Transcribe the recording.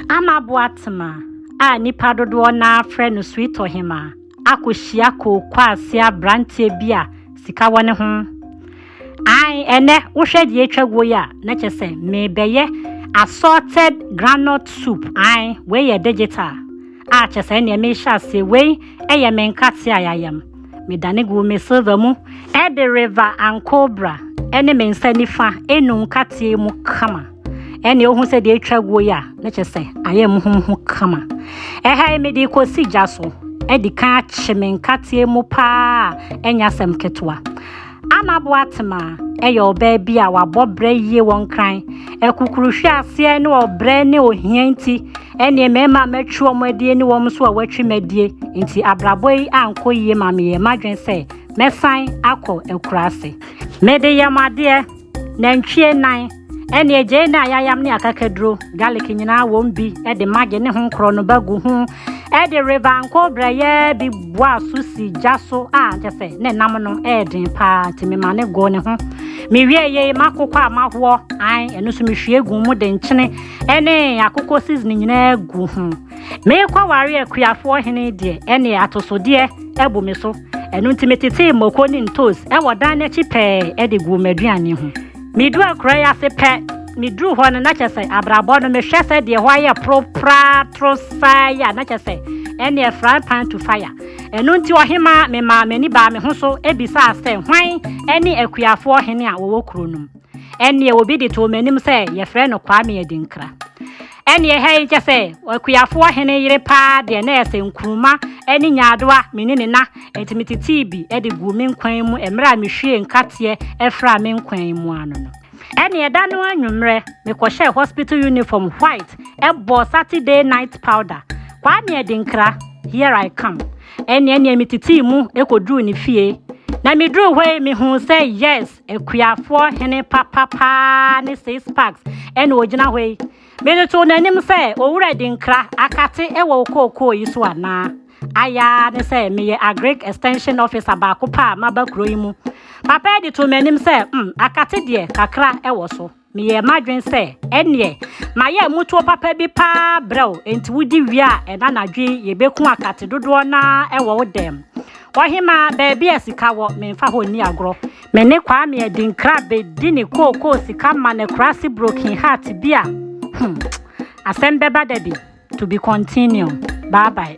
Ama Boatema a nnipa dodoɔ no ara frɛ no Suitɔhema akɔhyia kookwaasia aberanteɛ bi a sika wɔ ne ho. Ae, ɛnnɛ wohwɛ deɛ atwa guo yi a, na kyerɛ sɛ merebɛyɛ assorted groundnut soup, ae, wei yɛ digital. Ah, kyɛ sɛ ɛnneɛ mehyɛ aseɛ, wei yɛ me nkate a yɛayam. Medane guu me silver mu de River and Cobra ne me nsa nifa enu nkateɛ mu kama. Ɛnneɛ wohu sɛ deɛ atwa guo yi a, na kyɛ sɛ ayɛ muhumuhu kama. Ɛha yi mede kɔsi gya so, adi kan akye me nkateɛ mu paa a ɛnyɛ asɛm ketewa. Anna Boatema yɛ ɔbaa bi a wabɔ brɛ yie wɔ nkran. Akukuru hwe aseɛ ne ɔbrɛ ne ohia nti, ɛneɛ mmarima a matwi wɔn adie ne wɔn nso a wɔatwi m'adie nti abrabɔ yi ankɔ yie ma meyɛɛ m'adwene sɛ mɛsan akɔ akuraase. Mede yɛ mo adeɛ. Nantwie nan, ɛne agyei ne ayayam ne akakaduro, garlic nyinaa wɔn bi de maggi ne ho korɔ no ba gu ho de river anko brɛyɛɛ bi boa so si gya so a kyɛ sɛ ne nam no ɛɛden paa nti mema ne goo ne ho. Mewie yei makokɔ a mahoɔ an ɛno nso mehwie gu mu de nkyene ɛne akokɔ seasoning nyinaa gu ho. Merekɔware akuafoɔ hene deɛ, ɛnneɛ atosodeɛ bu me so. Ɛno nti metetee mmoko ne ntoosi wɔ dan no akyi pɛɛ de guu m'aduane ho. Meduu akuraa yi ase pɛ, meduruu hɔ no, na kyerɛ sɛ abrabɔ no, mehwɛ sɛ deɛ ɛhɔ ayɛ poro praa toro saa yi a, na kyerɛ sɛ ɛnneɛ frying pan to fire. Ɛno nti ɔhemaa, memaa m'ani baa me ho so bisaa sɛ hwan ne akuafoɔ hene a wɔwɔ kuro no mu. Ɛnneɛ obi de too m'anim sɛ yɛfrɛ no Kwame Adinkra. Ɛnneɛ ɛha yi kyɛ sɛ akuafoɔ hene yere paa deɛ na ɛsɛ nkruma ne nyaadoa me ne ne na enti metetee bi de guu me nkwan mu mmerɛ a mehwiee nkateɛ fraa me nkwan mu ano no. Ɛnneɛ da no anwummerɛ mekɔhyɛɛ hospital uniform white bɔɔ Saturday night powder, Kwame Adinkra, here I come. Ɛnneɛ neɛ metetee mu kɔduruu ne fie. Na meduruu hɔ yi mehuu sɛ yes, Akuafoɔ hene papa paa ne six packs ɛna ogyina hɔ yi. Mede too n'anim sɛ owura di nkra akate ɛwɔ wo kookoo yi so anaa? Ayaa ne sɛ meyɛ agric extension officer baako pɛ a maba kuro yi mu. Papa ɛde too m'anim sɛ mm akate deɛ kakra ɛwɔ so. Meyɛɛ m'adwene sɛ, Ɛnneɛ, mayɛ mmutuo papa bi paa brɛ wo, enti wodi wie a, ɛna anadwo yi yɛbɛku akate dodoɔ no ara wɔ wo dan mu. Ɔhemaa, baabi a sika wɔ, memfa hɔ nni agorɔ. Me ne Kwame Adinkra bɛdi ne kookoo sika ma no akurase broken heart bi a, hmm, asɛm bɛba da bi. To be continue. Bye bye.